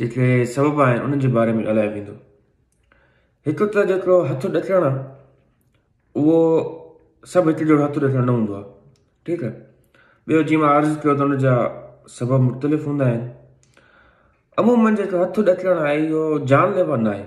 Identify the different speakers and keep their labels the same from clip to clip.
Speaker 1: جيڪي سبب آهن انهن جي باري ۾ ڳالهايو ويندو. هڪ ته جيڪو هٿ ڏڪڻ آهي اهو سڀ هڪ جهڙو هٿ ڏڪڻ نه هوندو آهي ٺيڪ آهي ٻيو جيئن مان عرض ڪيو ته ان جا سبب مختلف هوندا آهن عمومن جيڪو هٿ ڏڪڻ آهي اهو جان ليوا نه آهي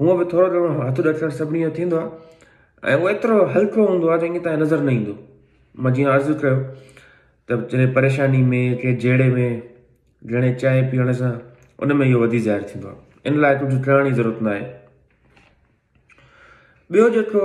Speaker 1: هونء به ٿورو گهڻو هٿ ڏٺل سڀني جو ٿيندو آهي ۽ اهو ايترو هلڪو هوندو آهي جو انهيء تائين نظر نه ايندو. مان جيئن عرض ڪيو ته جڏهن پريشاني ۾ يا ڪنهن جهيڙي ۾ گهڻي چانهه پيئڻ سان ان ۾ اهو وڌي ظاهر ٿيندو آهي. ان لاء ڪجهه ٽهڻ جي ضرورت نه آهي. ٻيو جيڪو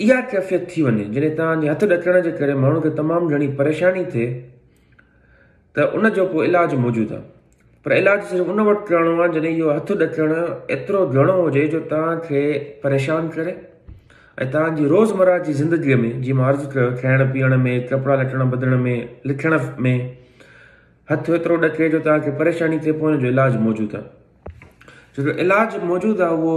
Speaker 1: اها ڪيفيت ٿي وڃي جڏهن توهان جي هٿ ڏڪڻ جي ڪري ماڻهو کي تمام گهڻي پريشاني ٿئي ته ان جو ڪو علاج موجود آهي پر علاج صرف ان وقت ڪرڻو آهي جڏهن اهو هٿ ڏڪڻ ايترو گهڻو هجي جو توهان کي پريشان ڪري ۽ توهان جي روزمرا جي زندگي ۾ جي مان عرض ڪيو کائڻ پيئڻ ۾ ڪپڙا لٽڻ بدلڻ ۾ لکڻ ۾ هٿ ايترو ڏڪي جو توهان کي پريشاني ٿئي پوء ان جو علاج موجود آهي جو علاج موجود آهي اهو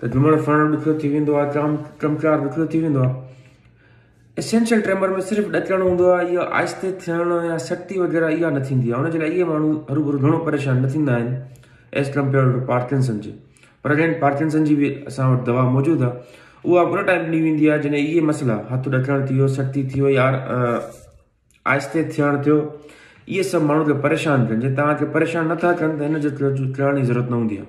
Speaker 1: ته جهمڻ سهڻ ڏکيو ٿي ويندو آهي، چام چمچار ڏکيو ٿي ويندو آهي. اسينشل ٽريمر ۾ صرف ڏچڻ هوندو آهي، اها آهستي ٿيڻ يا سڪتي وغيره اها نه ٿيندي آهي، ان جي لاء اهي ماڻهو هروڀرو گهڻو پريشان نه ٿيندا آهن ايز ڪمپيئرڊ ٽو پارڪنسن جي. پر اگين پارڪنسن جي به اسان وٽ دوا موجود آهي، اها به ان ٽائيم ڏني ويندي آهي جڏهن اهي مسئلا هٿ ڏچڻ ٿي ويو، سڪتي ٿي وئي، آهستي ٿيڻ ٿيو، اهي سڀ ماڻهو کي پريشان ڪن جي توهان کي پريشان نه ٿا ڪن ته ان جو چوڻ جي ضرورت نه هوندي آهي.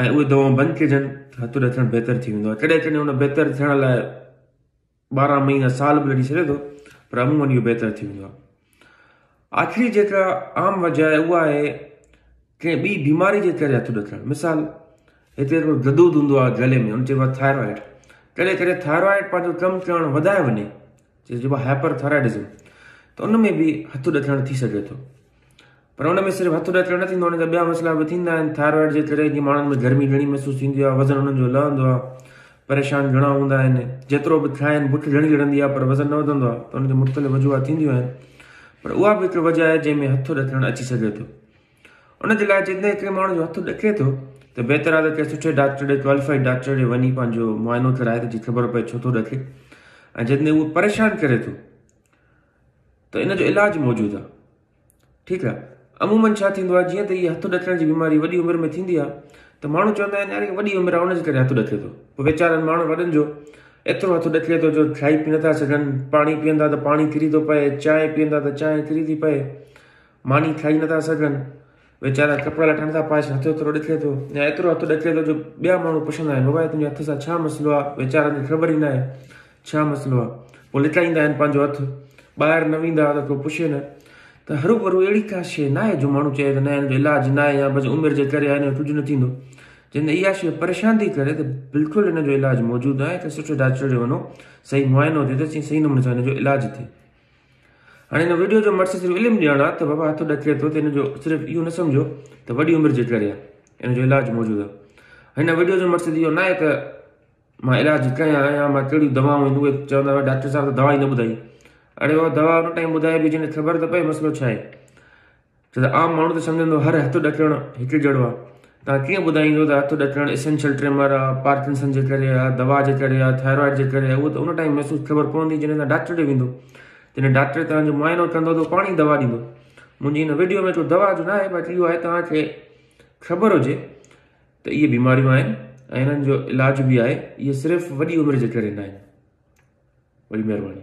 Speaker 1: ۽ اهي دوائون بند ڪجن ته هتوڏي ٿيڻ بهتر ٿي ويندو آهي. ڪڏهن ڪڏهن ان بهتر ٿيڻ لاء ٻارهن مهينا سال به لڳي سگهي ٿو پر عموماً اهو بهتر ٿي ويندو آهي. آخري جيڪا عام وجه آهي اها آهي ڪنهن ٻي بيماري جي ڪري هتوڏي ٿيڻ مثال هتي هڪڙو ددود هوندو آهي گلي ۾ ان چئبو آهي ٿائرائڊ ڪڏهن ڪڏهن ٿائرائڊ پنهنجو ڪم ڪرڻ وڌائي وڃي جنهن چئبو آهي هائپر ٿائرائڊزم ته ان ۾ به هتوڏي ٿيڻ ٿي سگهي ٿو. پر ان ۾ صرف هٿ ڏتڙ نه ٿيندو آهي، ان جا ٻيا مسئلا به ٿيندا آهن. ٿائرائڊ جي ڪري جي ماڻهن ۾ گرمي گهڻي محسوس ٿيندي آهي، وزن انهن جو لهندو آهي، پريشان گهڻا هوندا آهن، جيترو به کائين بک گهڻي لڙندي آهي پر وزن نه وڌندو آهي ته ان جي مختلف وجوهات ٿينديون آهن پر اها به هڪ وجه آهي جنهن ۾ هٿ ڏتڙ اچي سگهي ٿو. ان جي لاء جيڪڏهن ڪنهن ماڻهو جو هٿ ڏڪي ٿو ته بهتر آهي ته ڪنهن سٺي ڊاڪٽر ڏي، ڪواليفائيڊ ڊاڪٽر ڏي وڃي پنهنجو معائنو ڪرائي ته جي خبر پئي ڇو ٿو ڏڪي ۽ جيڪڏهن اهو پريشان ڪري ٿو. ته ان جو علاج موجود آ ٺيڪ آ عمومن ڇا ٿيندو آ جيئن ته هي هٿ ڏچڻ جي بيماري وڏي عمر ۾ ٿيندي آ ته ماڻهو چوندا آهن يار هي وڏي عمر آ ان جي ڪري هٿ ڏچي ٿو پوء ويچارن ماڻهن وڏن جو ايترو هٿ ڏچي ٿو جو کائي پي نٿا سگهن پاڻي پيئندا ته پاڻي ٿري ٿو پئي چانهه پيئندا ته چانهه ٿري ٿي پئي ماني کائي نٿا سگهن ويچارا ڪپڙا لٽڻ ٿا پاش هٿ ايترو ڏچلي ٿو يا ايترو هٿ ڏچلي ٿو جو ٻيا ماڻهو پڇندا آهن بابا تنهنجي هٿ سان ڇا مسئلو آهي ويچارن کي خبر ئي نه آهي ڇا مسئلو آهي پوء لٽائيندا آهن پنهنجو هٿ ٻاهر نه ويندا ته ڪو پڇي نه ته هرو ڀرو اهڙي ڪا شيء نه آهي جو ماڻهو چئي ته نه هن جو علاج نه آهي يا بس عمر جي ڪري هن جو ڪجهه نه ٿيندو جن تي اها شيء پريشان ٿي ڪري ته بلڪل هن جو علاج موجود آهي ته سٺي ڊاڪٽر ڏي وڃو صحيح معائنو ٿئي ته صحيح نموني سان هن جو علاج ٿئي هاڻي هن ويڊيو جو مقصد صرف علم ڏيڻ آهي ته وبا هٿ ڏڪي ٿو ته هن جو صرف اهو نه سمجهو ته وڏي عمر جي ڪري آهي ان جو علاج موجود آهي هن ويڊيو جو مقصد اهو ناهي ته مان علاج ڪيان آهيان مان ڪهڙيون دواؤں آهن اهي چوندا هئا ڊاڪٽر صاحب ته دوا ئي نه ٻڌائي اڙي هو دوا ان ٽائم ٻڌائي به جنهن کي خبر ته پئي مسئلو ڇا آهي ڇو ته عام ماڻهو ته سمجهندو هر هٿ ڏڪڻ هڪ جهڙو آهي. توهان ڪيئن ٻڌائيندو ته هٿ ڏڪڻ اسينشل ٽريمر آهي، پارڪنسن جي ڪري آهي، دوا جي ڪري آهي، ٿائرائڊ جي ڪري آهي، اهو ته ان ٽائيم محسوس خبر پوندي جڏهن توهان ڊاڪٽر ڏي ويندو. جڏهن ڊاڪٽر توهان جو معائنو ڪندو ته اهو پاڻ ئي دوا ڏيندو. منهنجي هن وڊيو ۾ ڪو دوا جو ناهي باقي اهو آهي توهان کي خبر هجي ته اهي بيماريون آهن ۽ انهن جو علاج به آهي. اهي صرف وڏي عمر جي ڪري ناهن. وڏي مهرباني.